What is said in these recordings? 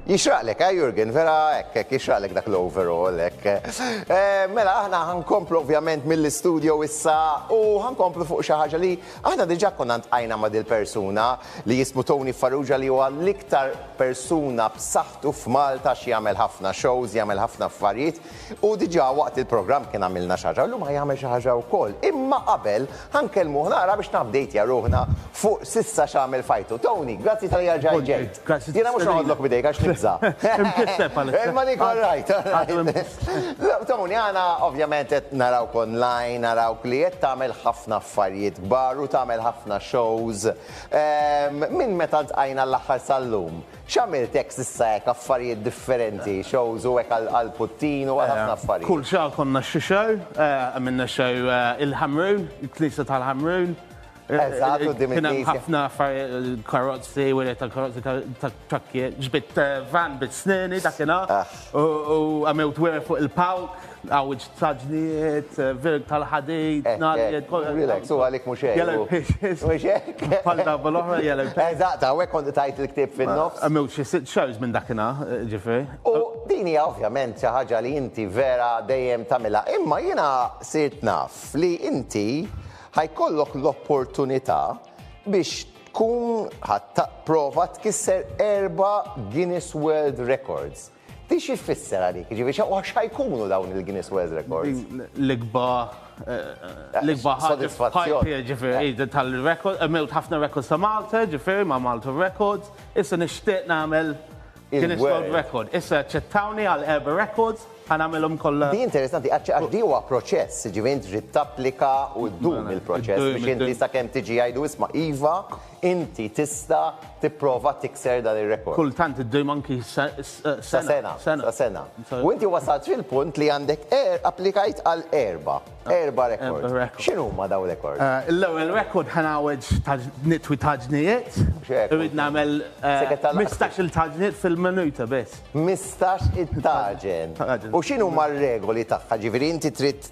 Jixraqlek, eh, Jurgen? Vera hekk, hekk, jixraqlek dak l-overall, hekk. Eh, mela, aħna ħankomplu ovvjament mill-istudio issa u ħankomplu fuq xi ħaġa li aħna diġà konna ntqajna ma' dil-persuna li jismu Tony Farrugia li huwa l-iktar persuna b'saħħtu f'Malta x'jagħmel ħafna shows, jagħmel ħafna affarijiet. U diġà waqt il-programm kien għamilna xi ħaġa u llum ħa jagħmel xi ħaġa wkoll. Imma qabel ħa nkellmuh naqra biex n-updateja ruħna fuq s'issa x'għamel f'ħajtu. Tony, grazzi talli erġajt ġejt. Jiena mhux noqgħodlok b'idejk għax nibża'. Imkisseb għalissa. Imma dik all right. Tony, aħna ovvjament qed narawk online, narawk li qed tagħmel ħafna affarijiet kbar u tagħmel ħafna shows. Minn meta ltqajna l-aħħar sal-lum, X'għamilt hekk s'issa hekk affarijiet differenti, shows u hekk għal Putin u għal ħafna affarijiet. Kull xahar konna xi show, għamilna show il-Ħamrun, il-Knisja tal-Ħamrun. Eżatt, quddiem il-Knisja. Kien hemm ħafna affarijiet, karozzi, wiriet tal-karozzi, tat-trakkijiet, ġbidt van bit-sneni dakinhar u għamilt wiriet fuq il-palk. Għawġ ta' ġniet, virg tal-ħadid, narijiet, kollu. Relax, u għalik mux hekk. Yellow pages. Mux hekk. Palda bol-oħra, yellow pages. Eżatt, għawek kont tajt il-ktib fin-nofs. Għamilt xi sitt shows minn dakina, ġifri. U din hija ovvjament xi ħaġa li inti vera dejjem tagħmilha. Imma jiena sirt naf li inti ħajkollok l-opportunità biex tkun ħadd prova tkisser erba' Guinness World Records. Di xi tfisser għalik? Ġifieri xa u xa jkunu dawn il-Guinness World Records? L-ikba l-ikba ħaġa Sodisfazzjon. f'ħajti, ġifieri, di tal-record, għamilt ħafna records ta' Malta, ġifieri ma' Malta Records, issa nixtieq nagħmel Guinness Il-gwer. World Record. Issa aċċettawni għal erba' records, ħa nagħmilhom kollha. Di interessanti għax għax di huwa proċess, ġifieri int trid tapplika u ddum il-proċess Iddum, biex inti iddum. sakemm tiġi jgħidu isma' iva, Inti tista' tipprova tikser dan ir-rekord. Kultant iddum anki sa sena. Sa sena. U inti wasalt fil-punt li għandek applikajt għal erba'. Erba' rekords. X'inhuma dawn rekords? L-ewwel rekord ħa ngħawweġ nitwi taġnijiet. Irrid nagħmel 15-il taġniet fil-minuta biss. 15-il taġen. U x'inhuma r-regoli tagħha? Ġifieri inti trid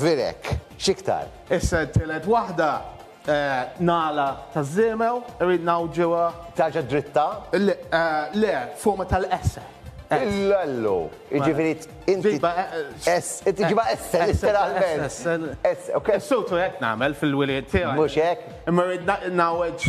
Virek, x'iktar? Issa t-tielet waħda, nagħla taż-żiemel, irrid ngħawġuha. Tarġa' dritta? Le, le, forma tal-esse. Illallu! Jiġifieri inti. Ġibha esse. Inti ġibha esse, letteralment. Esse, esse. Is-soltu hekk nagħmel fil-wilied tiegħi. Mhux hekk? Imma rrid ngħawweġ.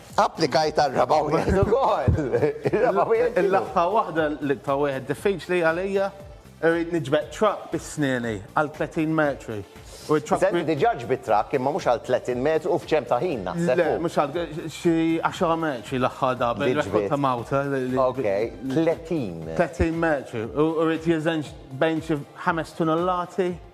Applikajt għar-raba' wieħed ukoll. Ir-raba' wieħed x'inhu? L-aħħar waħda li ta' wieħed diffiċli għalija. Irrid niġbed truck bi snieni għal 30 metru. U t-truck. Senti, diġà ġbidt truck imma mhux għal 30 metru u f'ċemp ta' ħin naħseb. Le, mhux għal xi 10 metri l-aħħar darba. Li ġbidt. Rekord ta' Malta. Ok, 30. 30 metru. U rrid jeżenx bejn xi ħames tunnellati.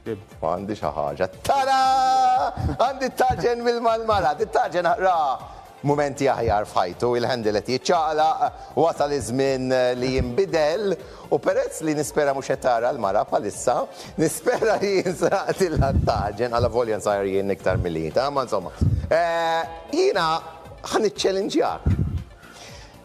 Ibda. Għandi xi ħaġa. Tara! Għandi t-tarġen mill-Malmala. Dit-tarġen ra mumenti aħjar f'ħajtu, il-handle qed jiċċaqlaq, wasal iż-żmien li jinbidel u perezz li nispera mhux qed tara l-mara bħalissa, nispera li jinsraqtilha t-tarġen, allavolja nsajjar jien iktar milli inti, imma insomma. Jiena ħa niċċelinġjak.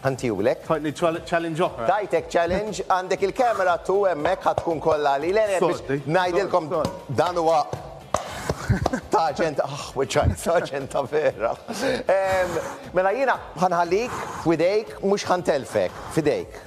Ħantiulek. Ħadni challenge oħra. Tajtek challenge, għandek il-camera tu hemmhekk ħa tkun kollha li le biex ngħidilkom dan huwa ta' aġent aħ wiċċajt ta' aġent ta' vera. Mela jiena ħanħallik f'widejk mhux ħantelfek f'idejk.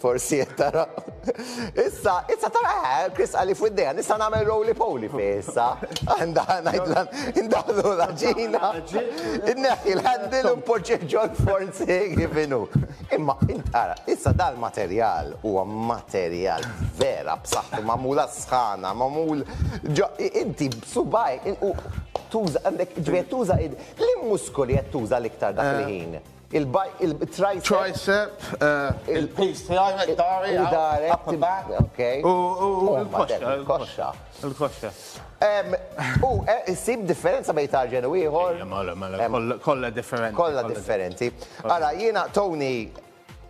Forsi qed tara. Issa, issa tara eh, Chris għalli fuq id-dejja, nista' nagħmel roly poly fi issa. Għandha ngħidla indaħlu l-ġina. Inneħħi l-handle u npoġġih ġol forsi kif inhu. Imma intara, issa dal-materjal huwa materjal vera b'saħħtu magħmula sħana, magħmul ġo inti b'subaj tuża għandek ġbed tuża id. Li muskoli qed tuża l-iktar dak il-ħin? Il-tricep, il-piż tiegħi hekk dahri, upper back, u l-koxxa. Il-koxxa. U issib differenza bejn tarġen u ieħor? Mela, mela, kollha differenti. Kollha differenti. Ara, jiena Tony,